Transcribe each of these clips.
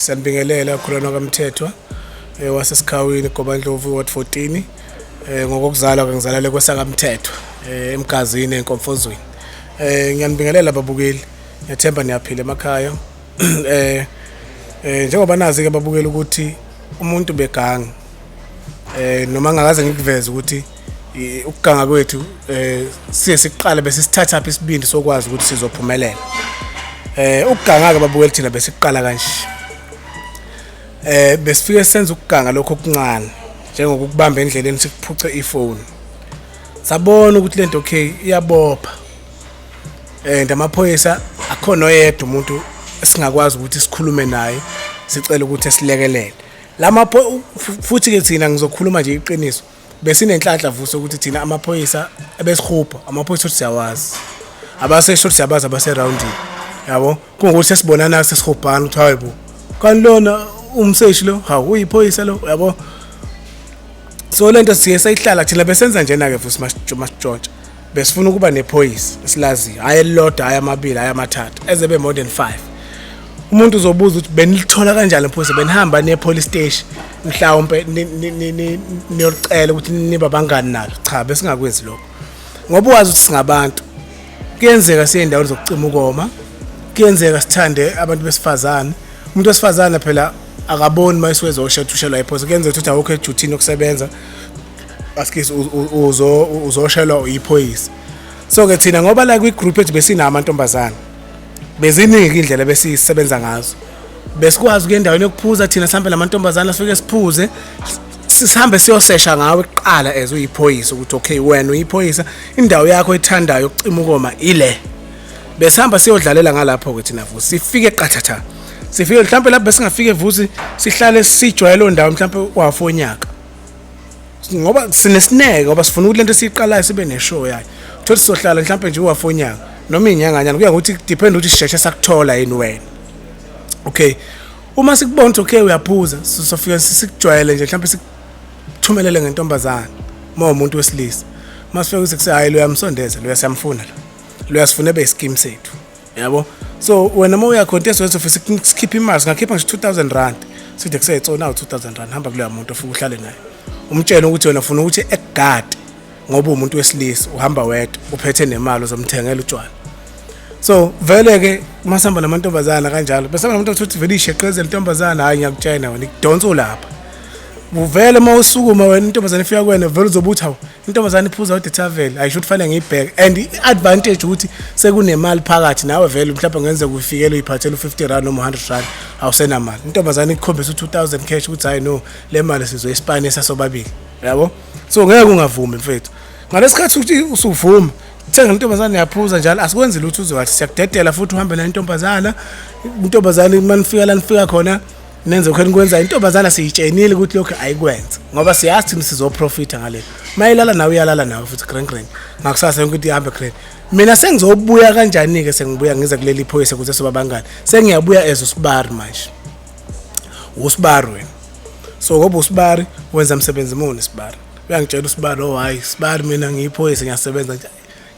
Siyanibingelela Khulwana kaMthethwa eh, waseSikhawini Gobandlovu Ward 14 eh, ngokokuzalwa ke ngizalale kwesakamthethwa eh, emgazini enkomfozweni eh ngiyanibingelela babukeli ngethemba niyaphila emakhaya eh eh njengoba nazi ke babukeli ukuthi umuntu begangi eh noma ngakaze ngikuveze ukuthi ukuganga kwethu eh siye siqale bese sithatha phi isibindi sokwazi ukuthi sizophumelela eh ukuganga ke babukeli thina bese siqala kanje eh besifike senza ukuganga lokho okuncane njengokubamba endleleni sikuphuce ifoni sabona ukuthi lento okay iyabopha eh ndamaphoyisa akhona oyedwa umuntu esingakwazi ukuthi sikhulume naye sicela ukuthi esilekelele lama futhi ke thina ngizokhuluma nje iqiniso besinenhlanhla vuso ukuthi thina amaphoyisa ebesihubha amaphoyisa ukuthi siyawazi abasesho ukuthi siyabazi abaseroundini yabo kungukuthi sesibonana sesihubhana ukuthi hayi bo kanti lona umseshi lo hawu uyiphoyisa lo yabo so lento siye sayihlala thina besenza njena-ke futhi masitshontsha besifuna ukuba nephoyisi esilaziyo hhayi elilodwa hhayi amabili hhayi amathathu eze be more than five umuntu uzobuza ukuthi benilithola kanjani iphoyisa benihamba ne-police station mhlawumpe niyolicela ukuthi niba bangani nalo cha besingakwenzi lokho ngoba uwazi ukuthi singabantu kuyenzeka siye endaweni zokucima ukoma kuyenzeka sithande abantu besifazane umuntu wesifazane phela akaboni uma isiwezosha thushelwa iphoyisa kuyenzeka ukuthi awukho ejuthini yokusebenza askisi uzo uzoshelwa uyiphoyisa so ke thina ngoba la kwi group ethu besina amantombazana beziningi indlela besisebenza ngazo besikwazi ukuya endaweni yokuphuza thina sihambe namantombazana sifike siphuze sihambe siyosesha ngawe kuqala as uyiphoyisa ukuthi okay wena uyiphoyisa indawo yakho ethandayo ukucima ukoma ile besihamba siyodlalela ngalapho ke thina futhi sifike qathatha sifike mhlawumbe lapho besingafike vusi sihlale sijwayele ondawo mhlawumbe wafonyaka ngoba sinesineke ngoba sifuna ukuthi lento siyiqalayo sibe neshow yayo thola sizohlala mhlawumbe nje uwafonyaka noma inyanganyana kuya ngokuthi depend ukuthi sisheshe sakuthola yini wena okay uma sikubona ukuthi okay uyaphuza sofika sikujwayele nje mhlawumbe sikuthumelele ngentombazana uma umuntu wesilisa masifika ukuthi kusehayi lo yamsondeza lo yasiyamfuna lo lo yasifuna ebe isikimu sethu yabo so wena uma uya contest wethu ofisa sikhiphe imali singakhipha nje 2000 rand side kuseyitsona 2000 rand hamba kuleya muntu ofuka uhlale naye umtshela ukuthi wena ufuna ukuthi ekugade ngoba umuntu wesilisa uhamba wedwa uphethe nemali uzomthengela utshwala so vele ke masihamba namantombazana kanjalo bese abantu ukuthi vele isheqeze lentombazana hayi ngiyakutshena wena ikudonsa ulapha uvele uma usukuma wena intombazane ifika kwena vele uzobuthi hawu intombazane iphuza udetavel ayisho ukuthi fanele ngiyibheke and i-advantage ukuthi sekunemali phakathi nawe vele mhlawumbe ngenzeka ufikele uyiphathele u-50 rand noma u-100 rand awusenamali intombazane ikukhombisa u-2000 cash ukuthi hhayi no le mali sizoyisipane sasobabili yabo so ngeke ungavumi mfethu ngalesikhathi ukuthi usuvuma thenga intombazane yaphuza njalo asikwenzi lutho uzowathi siyakudedela futhi uhambe nayo intombazana intombazane uma nifika la nifika khona nenze khona kwenza intombazana siyitshenile ukuthi lokho ayikwenze ngoba siyazi thina sizoprofitha ngale mayilala nawe uyalala nawe futhi grand grand ngakusasa yonke into ihambe grand mina sengizobuya kanjani ke sengibuya ngize kuleli phoyisa kuze soba bangani sengiyabuya as usibari manje usibari wena so ngoba usibari wenza umsebenzi muni sibari uyangitshela usibari oh hayi sibari mina ngiyiphoyisa ngiyasebenza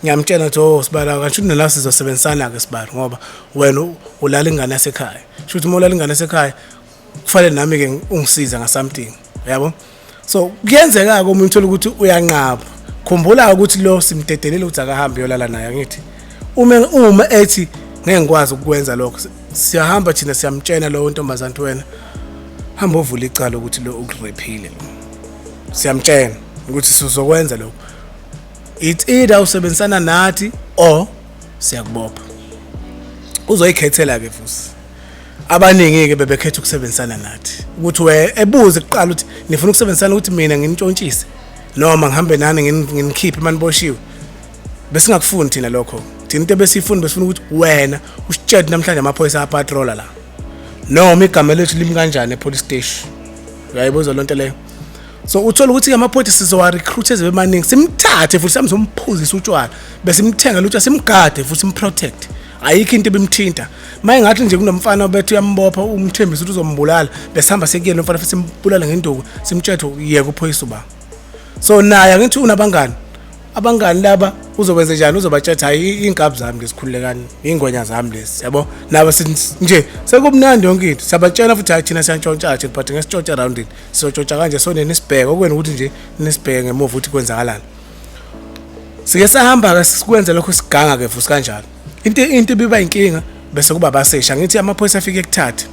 ngiyamtshela ukuthi oh sibala kanti shuthi nala sizosebenzisana ke sibala ngoba wena ulala ingane yasekhaya shuthi uma ulala ingane yasekhaya kufanele nami ke ungisiza nga something yabo so kuyenzeka ke uma uthola ukuthi uyanqaba khumbula ukuthi lo simdedelile ukuthi akahambe yolala naye ngithi uma uma ethi ngeke ngikwazi ukukwenza lokho siyahamba thina siyamtshena lowo ntombazane wena hamba ovula icala ukuthi lo ukuriphile siyamtshena ukuthi sizokwenza lokho it's either usebenzisana nathi or siyakubopha uzoyikhethela ke futhi abaningi ke bebekhetha ukusebenzisana nathi ukuthi we ebuze kuqala ukuthi nifuna ukusebenzisana ukuthi mina nginitshontshise noma ngihambe nani nginikhiphe maniboshiwe besingakufuni thina lokho thina into ebesifuni besifuna ukuthi wena usitshele namhlanje amaphoyisa apatrola la noma igama lethu limi kanjani epolice station uyayibuza lonto leyo so uthola ukuthi ke amaphoyisa sizowa-recruit eze bemaningi simthathe futhi sihambe somphuzisa utshwala besimthenga lutho simgade futhi simprotect ayikho into ebimthinta maye ngathi nje kunomfana obethu uyambopha umthembisa ukuthi uzombulala besihamba sekuyena umfana futhi simbulala ngenduku simtshethe yeka uphoyisa uba so naye angithi unabangani abangani laba uzokwenza njani uzobatshetha hayi iy'nkabi zami lesikhululekani iy'ngwenya zami lesi yabo nabo nje sekumnandi yonke into siyabatshela futhi hayi thina siyantshontshatshe but ngesitshontsha erowundini siyotshotsha kanje so nenisibheke okwena ukuthi nje nisibheke ngemuva ukuthi kwenzakalani sike sahamba ke sikwenze lokho siganga ke futhi kanjalo into into ibiba inkinga bese kuba abaseshi angithi amaphoyisa afike kuthathe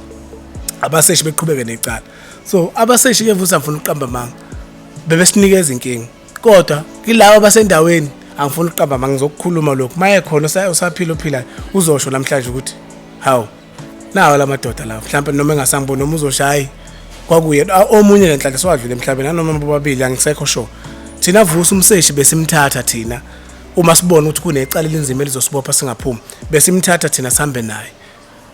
abaseshi beqhubeke necala so abaseshi ke futhi afuna ukuqamba manga bebesinikeza inkinga kodwa kilabo basendaweni angifuni ukuqamba manga ngizokukhuluma lokho maye khona usaphila ophilayo uzosho namhlanje ukuthi hawu nawo la madoda lawo mhlawumbe noma engasangiboni noma uzoshayi kwakuye ah, omunye lenhlanhla siwadlule emhlabeni anoma bobabili angisekho sho thina vusa umseshi besimthatha thina uma sibona ukuthi kunecala elinzima elizosibopha singaphumi besimthatha thina sihambe naye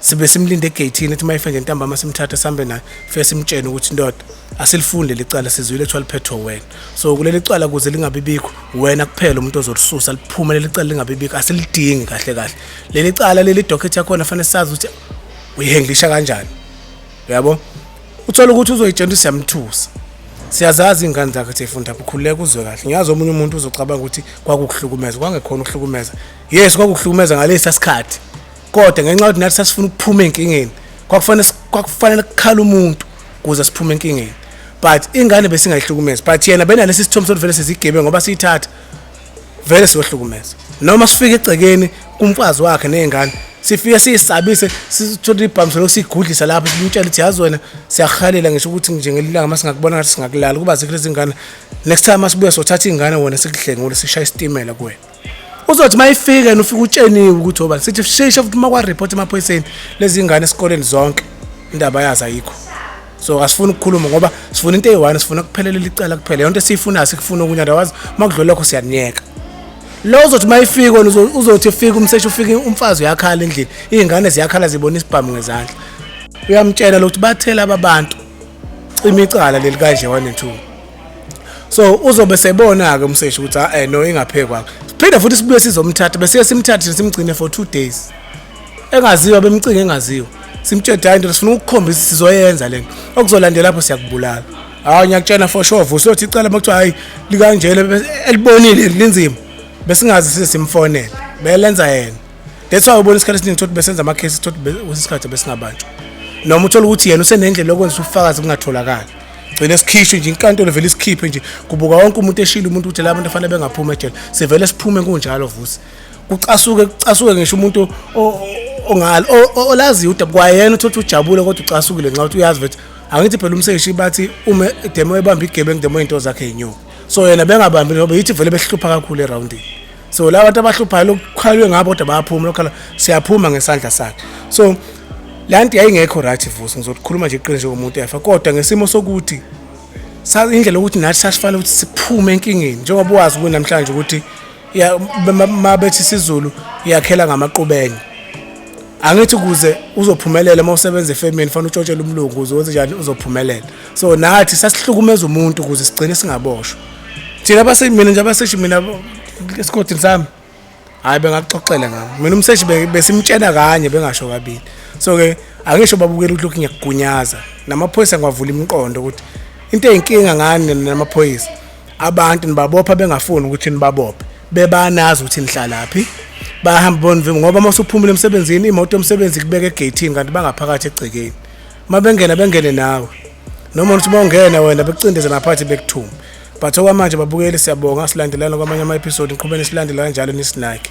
sibe simlinde egeyithini ethi uma efenje ntambama simthathe sihambe naye fe simtshene ukuthi ndoda asilifunde licala sizwile kuthiwa liphethwe wena so kuleli cala kuze lingabibikho wena kuphela umuntu ozolisusa liphume leli cala lingabibikho asilidingi kahle kahle leli cala leli docket yakhona fanele sazi ukuthi uyihenglisha kanjani uyabo uthola ukuthi uzoyitshela siyamthusa siyazazi ingane zakhe seyifunda bukhululeka uzwe kahle ngiyazi omunye umuntu uzocabanga ukuthi kwakukuhlukumeza kwangekhona ukuhlukumeza yes kwakukuhlukumeza ngalesa sikhathi kodwa ngenxa yokuthi nathi sasifuna ukuphuma enkingeni kwakufanele kwakufanele kukhala umuntu kuze siphume enkingeni but ingane besingayihlukumezi but yena benalesi sithombe sokuthi vele sizigebe ngoba siyithatha vele siyohlukumeza noma sifike egcekeni kumfazi wakhe nezingane sifike siyisabise sithole ibhamiselo usigudlisa lapho simtshela ukuthi yazi wena siyahalela ngisho ukuthi nje ngelilanga uma singakubona ngathi singakulala kuba zikho lezi ngane next time uma sibuya sothatha iy'ngane wona sikuhlengule sishaya isitimela kuwena uzothi uma ifika yena ufike utsheniwe ukuthi obani sithi shesha futhi uma kwareport emaphoyiseni lezi ngane esikoleni zonke indaba yazo ayikho so asifuni ukukhuluma ngoba sifuna into eyi-one sifuna kuphelelela icala kuphela yonto esiyifunayo sikufuna okunye otherwise uma kudlula lokho siyaniyeka lo uzothi uma ifika wena uzothi ufika umseshi ufike umfazi uyakhala endlini iy'ngane ziyakhala zibona isibhamu ngezandla uyamtshela lokuthi bathela ababantu cima icala leli kanje one and two so uzobe sebona-ke umseshi ukuthi a ah, eh, no ingaphekwakhe siphinde futhi sibuye sizomthatha besiye simthathe simgcine for two days engaziwa bemcinga engaziwa simtshede hayi ndoda sifuna ukukhombisa sizoyenza lento okuzolandela lapho siyakubulala hayi ngiyakutshena for sure vusa uthi icala makuthiwa hayi likanjena elibonile linzima besingazi sise simfonele belenza yena that's why ubona isikhathi esiningi ukuthi besenza ama cases ukuthi usisikhathi besingabanjwa noma uthola ukuthi yena usenendlela yokwenza ufakazi kungatholakali gcine sikhishwe nje inkantolo vele isikhiphe nje kubuka wonke umuntu eshilo umuntu ukuthi la bantu afanele bengaphuma ejele sivele siphume kunjalo vusi kucasuke kucasuke ngisho umuntu ongalo olaziyo udabu kwayena uthothi ujabule kodwa ucasukile nxa uthi uyazi vethi angithi phela umseshi bathi uma demo ebamba igebengu demo into zakhe yinyoko so yena bengabambi ngoba yithi vele behlupha kakhulu eroundini so la bantu abahluphayo lokukhalwe ngabo kodwa bayaphuma lokhala siyaphuma ngesandla sakhe so la nto yayingekho right vusi ngizokukhuluma nje iqiniso njengomuntu efa kodwa ngesimo sokuthi indlela yokuthi nathi sasifanele ukuthi siphume enkingeni njengoba wazi kunamhlanje ukuthi ya mabethi isiZulu iyakhela ngamaqubenye angithi kuze uzophumelela uma usebenza efemini fanele utshotshele umlungu uze wenze njani uzophumelela so nathi sasihlukumeza umuntu ukuze sigcine singaboshwa thina abasemina nje abaseshi mina esikhothini sami hayi bengaxoxela ngami mina umseshi besimtshena kanye bengasho kabili so ke angisho babukela ukuthi lokhu ngiyakugunyaza namaphoyisa ngiwavula imiqondo ukuthi into eyinkinga ngani namaphoyisa abantu nibabopha bengafuni ukuthi nibabophe bebanazi ukuthi nihlalaphi bahamba bonivimba ngoba uma usuphumile emsebenzini imoto yomsebenzi kubeka egeyithini kanti bangaphakathi egcekeni uma bengena bengene nawe noma uthi uma ungena wena bekucindeze naphathi bekuthuma but okwamanje babukeli siyabonga silandelana kwamanye ama-episode ngiqhubeni silandela kanjalo nisinake